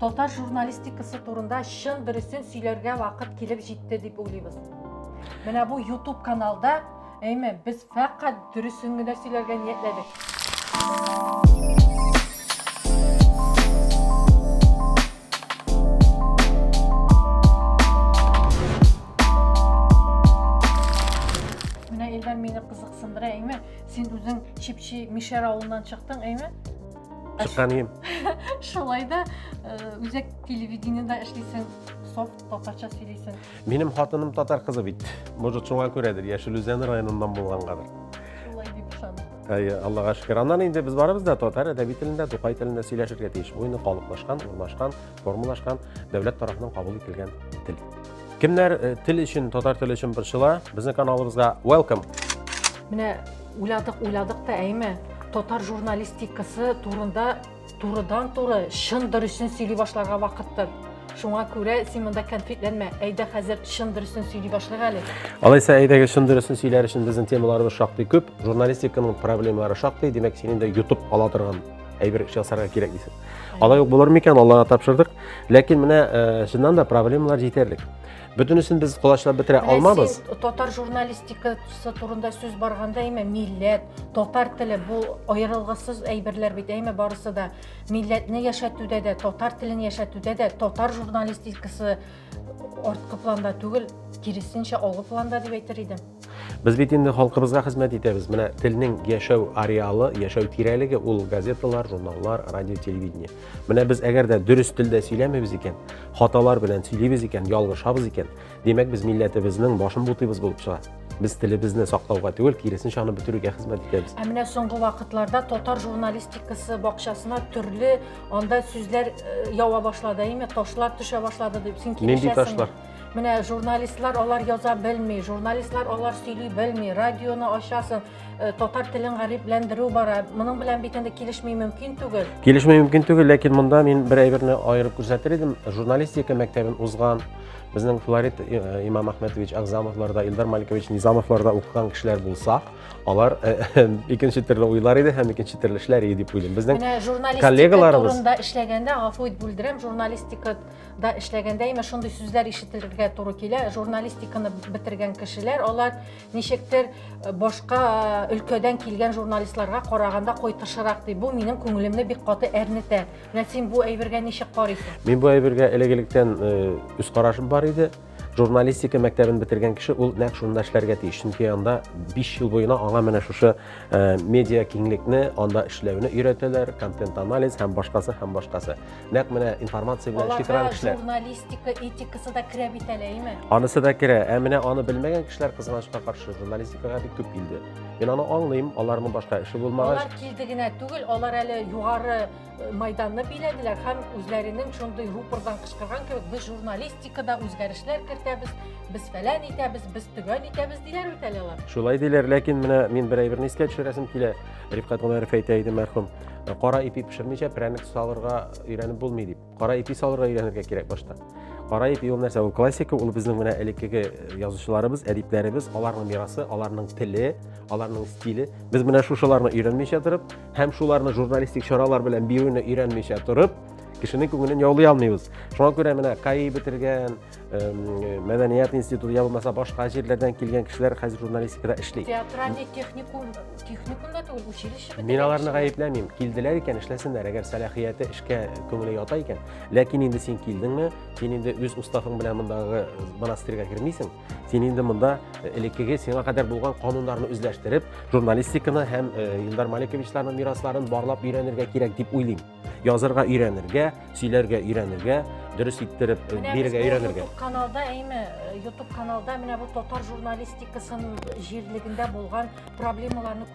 Татар журналистикасы турында чын дөресен сөйләргә вакыт килеп җитте дип уйлыйбыз. Менә бу YouTube каналда, әйме, без фәкать дөресен генә сөйләргә ниятләдек. Менә Илдар мине кызыксындыра, әйме, син үзең чипчи Мишәр авылыннан чыктың, әйме? Чыккан ием. Шулай да э, үзәк телевидениедә эшлисең, софт татарча сөйлисең. Минем хатыным татар кызы бит. Может, шуңа күрәдер, Яшел Үзән районыннан булгангадыр. Шулай дип ышанам. Әй, Аллага шөкер. Аннан инде без барыбыз да татар әдәби телендә, Тукай телендә сөйләшергә тиеш. Бу инде калыплашкан, урнашкан формалашкан дәүләт тарафыннан кабул ителгән тел. Кемнәр э, тел өчен, татар теле өчен борчыла, безнең каналыбызга welcome. Менә уйладык, уйладык та әйме, татар журналистикасы турында турыдан туры чын дөресен сөйли башларга вакыттыр. Шуңа күрә син монда конфликтләнмә. Әйдә хәзер чын дөресен сөйли башлыйк әле. Алайса әйдәгез чын дөресен сөйләр өчен безнең темаларыбыз шактый күп, журналистиканың проблемалары шактый, димәк син инде YouTube ала торган әйбер ясарга кирәк дисез алай ук булыр микән аллага тапшырдык ләкин менә э, чыннан да проблемалар җитәрлек бөтенесен без колачлап бетерә алмабыз татар журналистикасы турында сүз барганда әйме милләт татар теле бу аерылгысыз әйберләр бит әйме барысы да милләтне яшәтүдә дә татар телен яшәтүдә дә татар журналистикасы Арткы планда түгел, киресенчә алгы планда дип әйтер идем. Без бит инде халкыбызга хезмәт итәбез. Менә телнең яшәү ареалы, яшәү тирәлеге ул газеталар, журналлар, радио, телевидение. Менә без әгәр дә дөрес телдә сөйләмибез икән, хаталар белән сөйлибез икән, ялгышабыз икән, димәк без милләтебезнең башын бутыйбыз булып чыга. Без телебезне саклауга түгел, киресенчә аны бетерүгә хезмәт итәбез. Ә менә соңгы вакытларда татар журналистикасы бакчасына төрле Анда сүзләр э, ява башлады, әйме, ташлар төшә башлады дип син Нинди ташлар? Менә журналистлар алар яза белми, журналистлар алар сөйли белми, радионы ачасың, э, татар телен гарипләндерү бара. Моның белән бит инде килешми мөмкин түгел. Килешми мөмкин түгел, ләкин монда мин бер әйберне аерып күрсәтер идем. Журналистика мәктәбен узган безнең Флорид э, Имам Ахмедович Агзамовларда, Илдар Маликович Низамовларда укыган кешеләр булса, алар э, э, икенче төрле уйлар иде һәм икенче төрле эшләр иде дип уйлыйм безнең менә журналистика коллегаларыбыз турында эшләгәндә гафу ит бүлдерәм журналистикада эшләгәндә именно шундый сүзләр ишетергә туры килә журналистиканы бетергән кешеләр алар ничектер э, башка өлкәдән килгән журналистларга караганда кайтышырак ди бу минем күңелемне бик каты әрнетә менә син бу әйбергә ничек карыйсың мин бу әйбергә элек электән үз карашым бар иде журналистика мәктәбен бетергән кеше ул нәкъ шунда эшләргә тиеш чөнки анда 5 ел буена аңа менә шушы э, медиа киңлекне анда эшләүне өйрәтәләр контент анализ һәм башкасы һәм башкасы нәкъ менә информация белән эшли торган кешеләр журналистика этикасы да керә бит әле әйме анысы да керә ә менә аны белмәгән кешеләр кызганычка каршы журналистикага бик күп килде мин аны аңлыйм аларның башка эше булмагач алар килде генә түгел алар әле югары Майданны биләделәр һәм үзләренең шундый рупордан кычкырган кебек, без журналистикада үзгәрешләр кертәбез, без фәлән итәбез, без төгән итәбез диләр бит әле алар. Шулай диләр, ләкин менә мин бер әйберне искә төшерәсем килә. Рифкат Гомәров әйтә иде мәрхүм, кара ипи пешермичә прәник салырга өйрәнеп булмый дип. Кара ипи салырга өйрәнергә кирәк башта. Кара ипи ул нәрсә? Ул классика, ул безнең менә элеккеге язучыларыбыз, әдипләребез, аларның мирасы, аларның теле, аларның стиле. Без менә шушыларны өйрәнмичә торып, һәм шуларны журналистик чаралар белән бирүне өйрәнмичә торып кешенең күңелен яулый алмыйбыз шуңа күрә менә каи бетергән мәдәният институты я булмаса башка җирләрдән килгән кешеләр хәзер журналистикада эшли театральный техникум техникум да түгел училище мин аларны гаепләмим килделәр икән эшләсеннәр әгәр сәләхияте эшкә күңеле ята икән ләкин инде син килдеңме син инде үз уставың белән мондагы монастырьга кермисең Син инде монда э, элеккеге сиңа кадәр булган кануннарны үзләштереп, журналистиканы һәм э, Илдар Маликовичларның мирасларын барлап өйрәнергә кирәк дип уйлыйм. Язырга өйрәнергә, сөйләргә өйрәнергә, дөрес иттереп э, бирергә өйрәнергә. Менә каналда, әйме, YouTube каналда менә бу татар журналистикасын җирлегендә булган проблемаларны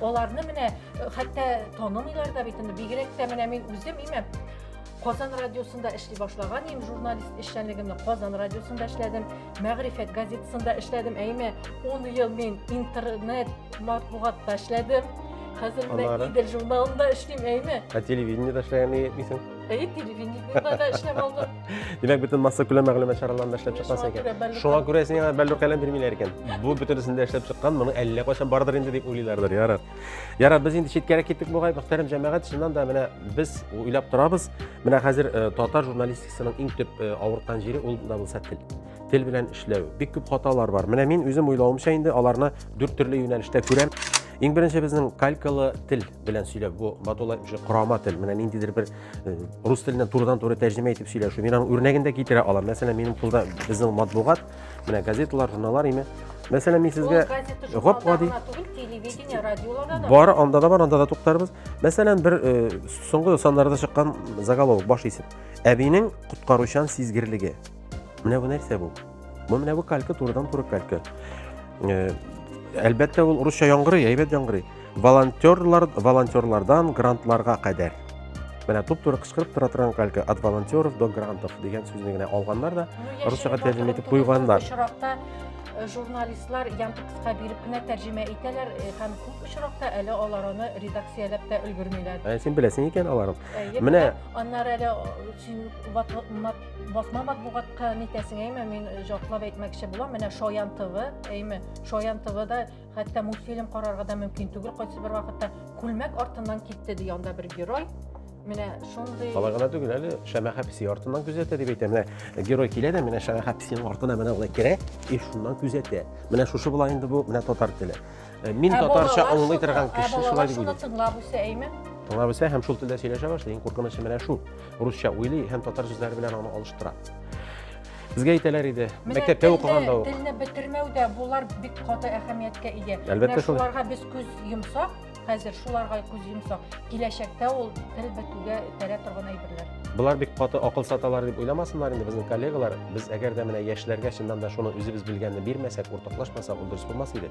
Аларны менә хәтта танымыйлар да бит инде. Бигрәк тә менә мин үзем имәм. Казан радиосында эшли башлаган идем, журналист эшчәнлегемне Казан радиосында эшләдем, Мәгърифәт газетасында эшләдем. Әйме, 10 ел мин интернет матбугатта эшләдем. Хәзер менә Идел журналында эшлим, әйме. Ә телевидениедә эшләгән идең? Әйе, телевидениедә дә эшләп алдым. Димәк, бөтен масса күләм мәгълүмат чараларында эшләп чыккансың икән. Шуңа күрә сиңа бәллүр каләм бирмиләр икән. Бу бөтенесендә эшләп чыккан, моны әллә кайчан бардыр инде дип уйлыйлардыр, ярар. Ярар, без инде читкәрәк киттек бугай, мөхтәрәм җәмәгать, чыннан да менә без уйлап торабыз. Менә хәзер э, татар журналистикасының иң төп э, авырткан җире ул да булса тел. Тел белән эшләү. Бик күп хаталар бар. Менә мин үзем уйлавымча инде аларны дүрт төрле юнәлештә күрәм. Иң беренче безнең калькалы тел. белән сөйләп, бу матулай уже корама тел. Менә ниндидер бер э, рус теленнән турыдан-туры тәрҗемә итеп сөйләшү. Мин аның үрнәген дә китерә алам. Мәсәлән, минем кулда безнең матбугат, менә газеталар, журналлар име. Мәсәлән, мин сезгә гап-гади телевидение, радиоларда да. Бар, анда да бар, анда да туктарбыз. Мәсәлән, бер э, соңгы саннарда чыккан заголовок баш исем. Әбинең коткаручан сизгерлеге. Менә бу нәрсә бу? Бу менә бу калька турыдан туры калька. Э, әлбәттә ул урысча яңгырый, әйбәт яңгырый. Волонтерлар, волонтерлардан грантларга кадәр. Менә туп-туры кычкырып тора торган калька от волонтеров до грантов дигән сүзне генә алганнар да ну, русчага тәрҗемә итеп куйганнар. Очракта э, журналистлар янты кыска биреп кенә тәрҗемә итәләр э, һәм күп очракта әле алар аны редакцияләп тә өлгермиләр. Ә син беләсең икән аларын. Менә аннары әле син Басма матбугатка нитәсең әйме, мин э, җатлап әйтмәкче булам, менә Шаян ТВ, әйме, Шаян ТВда хәтта мультфильм карарга да мөмкин түгел, кайсы бер вакытта күлмәк артыннан китте ди анда бер герой. Менә шундый Алай гына түгел әле, Шәмәхә песи артыннан күзәтә дип әйтә. Менә герой килә дә, менә Шәмәхә песинең артына менә алай керә, и шуннан күзәтә. Менә шушы була инде бу, менә татар теле. Э, мин ә татарча аңлый торган ә кеше шулай дип уйлыйм. Тыңлап үсә әйме? Тыңлап үсә һәм шул телдә сөйләшә башлый. Иң куркынычы менә шул. Русча уйлый һәм татар сүзләре белән аны алыштыра. Безгә әйтәләр иде, мәктәптә укыган да ук. Телне бетермәүдә булар бик каты әһәмияткә ия. Әлбәттә шул. Шуларга без күз йомсак, хәзер шуларга күз йомсак. Киләчәктә ул тел бетүгә этәрә торган әйберләр. Болар бик каты акыл саталар дип уйламасыннар инде безнең коллегалар. Без әгәр дә менә яшьләргә чыннан да шуны үзебез белгәнне бирмәсәк, уртаклашмасак, ул дөрес булмас иде.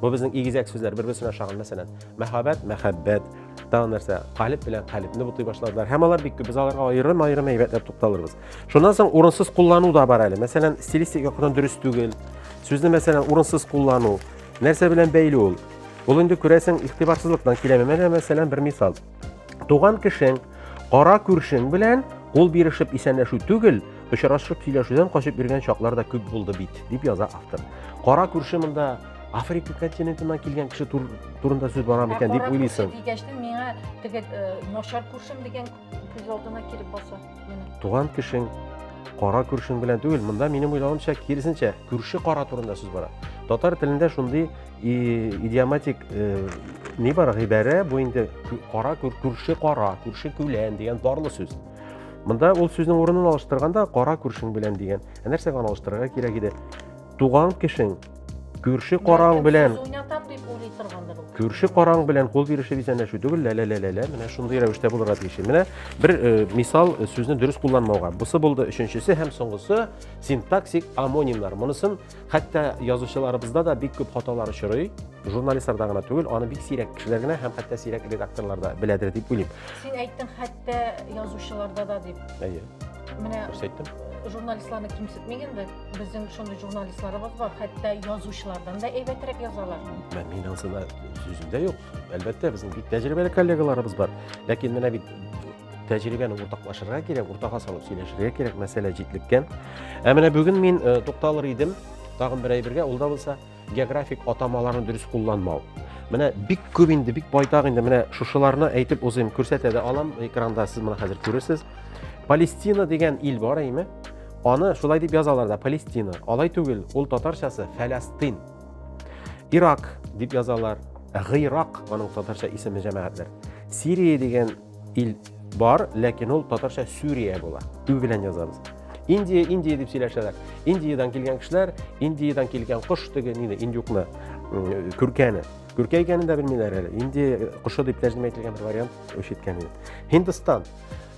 Бу безнең игезәк сүзләр бер-берсенә ошаган, мәсәлән, мәхәббәт, мәхәббәт, тагын нәрсә, калиб белән калибне бутый башладылар. Һәм алар бик күп, без аларга аерым-аерым әйбәтләп тукталырбыз. Шуннан соң урынсыз куллану да бар әле. Мәсәлән, стилистик яктан дөрес түгел. Сүзне, мәсәлән, урынсыз куллану. Нәрсә белән бәйле ул? Ул инде күрәсең, игътибарсызлыктан киләме? Менә, мәсәлән, бер мисал. Туган кешең, кара күршең белән кул бирешеп исәнләшү түгел, очрашып сөйләшүдән качып йөргән чаклар да күп булды бит, дип яза автор. Кара күрше монда Африка континентыннан килгән кеше тур, турында сүз бара микән дип уйлыйсың. Кара күрше дигәчтен миңа теге э, начар күршем дигән күз алдына килеп баса. Туган кешең, кара күршең белән түгел, монда минем уйлавымча киресенчә, күрше кара турында сүз бара. Татар телендә шундый идиоматик э, ни бар гыйбарә, бу инде кара күрше кара, күрше күлән дигән барлы сүз. Монда ул сүзнең урынын алыштырганда кара күршең белән дигән. Ә нәрсәгә аны алыштырырга кирәк иде? Туган кешең, Күрше караң белән уйнатам дип уйлый торгандыр ул. Күрше караң белән кул бирешеп исәнләшү түгел, лә лә лә лә лә менә шундый рәвештә булырга тиеш. Менә бер э, мисал э, сүзне дөрес кулланмауга. Бусы булды өченчесе һәм соңгысы синтаксик амонимнар. Монысын хәтта язучыларыбызда да бик күп хаталар очрый. Журналистларда гына түгел, аны бик сирәк кешеләр генә һәм хәтта сирәк редакторлар да беләдер дип уйлыйм. Син әйттең хәтта язучыларда да дип. Әйе. Менә Күрсәттем. журналистларны кимсетмик инде. Безнең шундый журналистларыбыз бар, хәтта язучылардан да әйбәтрәк язалар. Мә, мин ансына сүзендә юк. Әлбәттә, безнең бик тәҗрибәле коллегаларыбыз бар. Ләкин менә бит тәҗрибәне уртаклашырга кирәк, уртага салып сөйләшергә кирәк, мәсьәлә җитлеккән. Ә менә бүген мин э, тукталыр идем тагын бер әйбергә, ул да булса географик атамаларын дөрес кулланмау. Менә бик күп инде, бик байтак инде. Менә шушыларны әйтеп узыйм, күрсәтә дә алам. Экранда сез моны хәзер күрерсез. Палестина дигән ил бар әйме? Аны шулай дип язалар да, Палестина. Алай түгел, ул татарчасы Фәләстин. Ирак дип язалар. Гыйрак, аның татарча исеме җәмәгатьләр. Сирия дигән ил бар, ләкин ул татарча Сүрия була. Ю белән язабыз. Индия, Индия дип сөйләшәләр. Индиядән килгән кешеләр, Индиядән килгән кош теге нине, индюкны, күркәне. Күркә икәнен дә белмиләр әле. Индия э, кошы дип тәрҗемә ителгән бер вариант ишеткән идем. Һиндстан.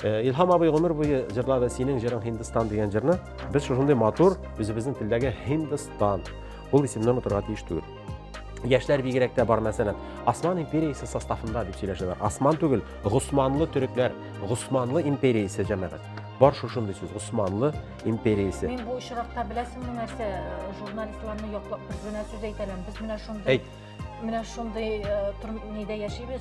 Э, Илһам абый гомер буе җырлады синең җырың Һиндстан дигән җырны. Без шушындый матур, үзебезнең телдәге Һиндстан. Ул исемнән утырга тиеш түгел. Яшьләр бигрәк тә бар, мәсәлән, Осман империясе составында дип сөйләшәләр. Осман түгел, Госманлы төрекләр, Госманлы империясе җәмәгать. Бар шушындый сүз, Госманлы империясе. Мин бу очракта беләсеңме нәрсә, э, журналистларны яклап бер генә сүз әйтәләм. Без менә шундый Әйт. менә шундый э, нидә яшибез.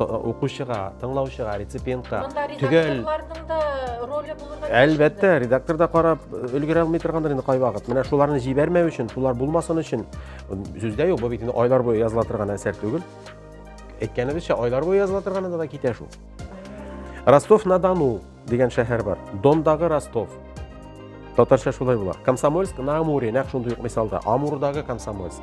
укучыга тыңлаучыга реципиентка төгәл роле булырга әлбәттә редактор да карап өлгерә алмый торгандыр инде кайвакыт менә шуларны җибәрмәү өчен шулар булмасын өчен сүздә юк бу бит инде айлар буе языла торган әсәр түгел әйткәнебезчә айлар буе языла торганында да китә шул ростов на дону дигән шәһәр бар дондагы ростов татарча шулай була комсомольск на амуре нәкъ шундый ук мисалда амурдагы комсомольск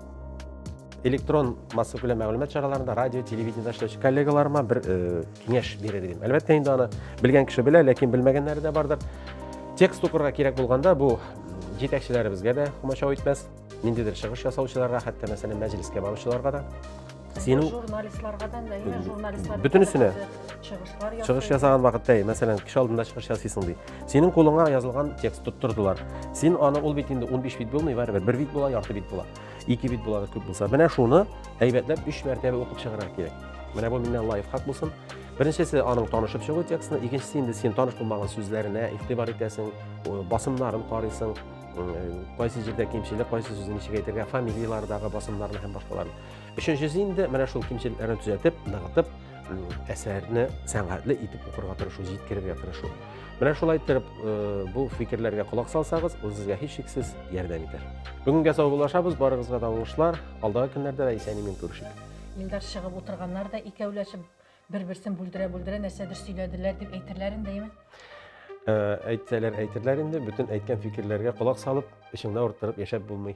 электрон масса күләм мәгълүмат чараларында радио телевидениеда эшләүче коллегаларыма бер э, киңәш бирер идем әлбәттә инде аны белгән кеше белә ләкин белмәгәннәре дә бардыр текст укырга кирәк булганда бу җитәкчеләребезгә дә комачау итмәс ниндидер чыгыш ясаучыларга хәтта мәсәлән мәҗлескә баручыларга да синең журналистларга да әйе журналистлар бөтенесенә чыгышлар ясый чыгыш ясаган вакытта әйе мәсәлән кеше алдында чыгыш ясыйсың ди синең кулыңа язылган текст тоттырдылар син аны ул бит инде 15 бит булмый барыбер бер бит була ярты бит була ике бит була күп булса менә шуны әйбәтләп өч мәртәбә укып чыгарга кирәк менә бу миннән лайфхак булсын беренчесе аның танышып чыгу текстны икенчесе инде син таныш булмаган сүзләренә игътибар итәсең басымнарын карыйсың кайсы җирдә кимчелек кайсы сүзне ничек әйтергә фамилиялардагы басымнарны һәм башкаларны Өченчесе инде менә шул кимчелекләрне төзәтеп, ныгытып, әсәрне сәнгатьле итеп укырга тырышу, җиткерергә тырышу. Менә шулай итеп бу фикерләргә колак салсагыз, ул сезгә һичшиксез ярдәм итәр. Бүгенгә саубуллашабыз, барыгызга да уңышлар. Алдагы көннәрдә дә исән-имин күрешик. Илдар чыгып утырганнар да икәүләшеп Бер-берсен бүлдерә-бүлдерә нәрсәдер сөйләделәр дип әйтерләр индеме? Ә, әйтсәләр әйтерләр инде, бөтен әйткән фикерләргә колак салып, эчеңдә урттырып яшәп булмый.